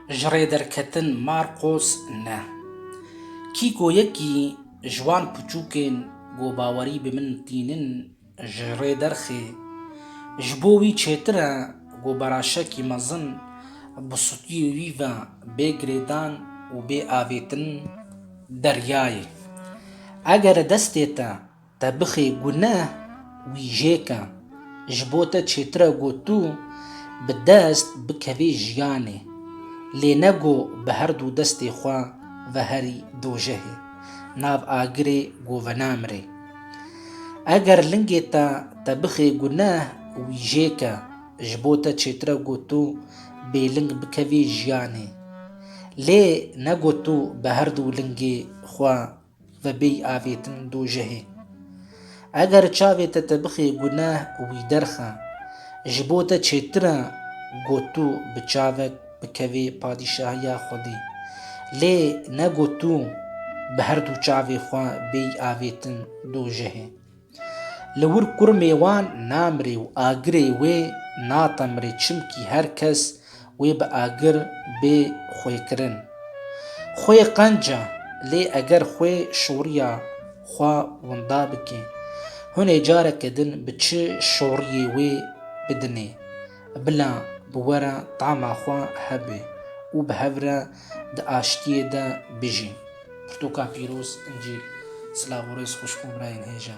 Ji rêderketin Marqos ne. Kî ku yekî ji wan piçûkên ku bawerî bi min tînin ji rê derxê, ji bo wî çêtir e ku beraşekî mezin bi sutiyê wî ve bê girêdan û bê avêtin deryayê. Eger destê te Te bixê guneh wî jêke. Ji bo te çêtire got tu bi dest bikevî jiyanê. Lê ne got bi her du destê xwe veherî dojehê, nav agirê govenamirê. Eger lingê te te bixê guneh wî jêke, ji bo te çêtire got tu bêling bikevî jiyanê. Lê ne got tu bi her du lingê xwe Ve bêy avêtin dojehê. Eger çavê te te bixê guneh û wî derxe, ji bo te çêtir e ku tu bi çavek bikevî padîşahiya Xwedê. Lê ne ku tu bi her du çavê xwe bêy avêtin dojehê. Li wir kurmê wan namirê û agirê wê natemirê çimkî her kes wê bi agir bê xwekirin. Xwe qenc e, lê eger xwe şoriya xwe winda bike, hunê careke din bi çi şoriyê wê bidinê, bila bi we re tama xwe hebe û bi hev re di aştiyê de bijîn. Pirtoka pîroz, Încîl, silav û rêz xwişk û birayên hêja.